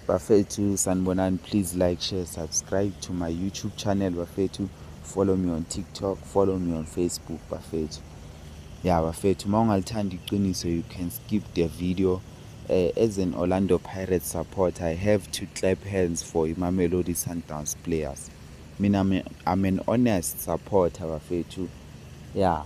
bafethu sanibonani please like share subscribe to my youtube channel bafethu follow me on tiktok follow me on facebook bafethu ya bafethu uma ungalithanda iqiniso you can skip the video uh, as an orlando pirate support i have to clap hands for imamelodi sundowns players mina i'm an honest supporter bafethu ya yeah.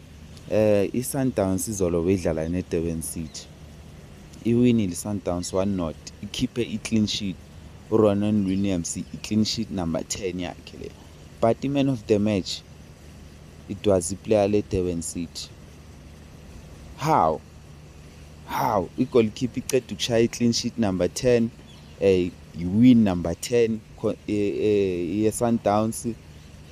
Eh iSundowns izolo beyidlala neDurban City. Iwinile iSundowns 1-0, ikhiphe i-clean sheet. URonan Williams i-clean sheet number 10 yakhe le. But i-man of the match it was iplayer leDurban City. How? How? I-goalkeeper iceda ukushaya i-clean sheet number 10, eh iwin number 10 yeSundowns. Eh,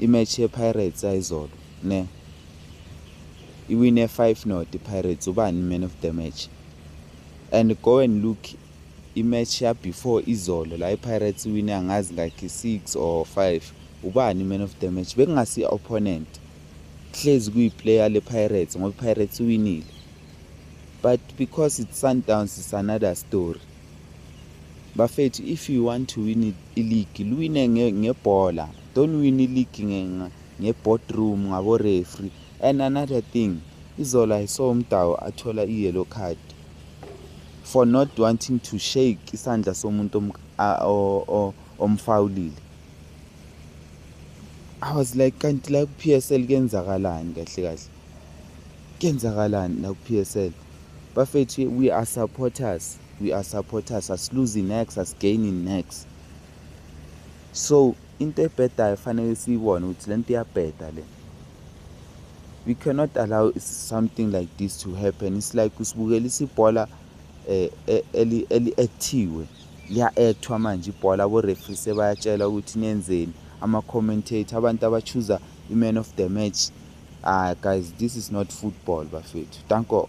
imatch yePirates ayizolo ne iwine 5 not iPirates ubani man of the match and go and look imatch ya before izolo la iPirates iwine angazi ngakhe 6 or 5 ubani man of the match bekungasi opponent hlezi kuyiplayer lePirates ngoba iPirates iwinile but because it's Sundowns it's another story Bafethu if you want to win ileague luwine ngebhola don't win ileague ngeboardroom ngaborefree and another thing izola i saw umdawu athola i-yellow card for not wanting to shake isandla somuntu omfawulile i was like kanti la ku-p s l kuyenzakalani kahle kahle Kenzakalani la ku PSL? Bafethu we are supporters, we are supporters, asiluzi next, asigaini next. So into ebhedayo fanele siyibone ukuthi le nto iyabheda le. We cannot allow something like this to happen. It's like usibukelisa ibhola eh, eh eli eli actiwe. Liya actwa manje ibhola abo referee sebayatshela ukuthi nenzeni ama commentator abantu abachuza iman of the match ah guys this is not football bafethu danko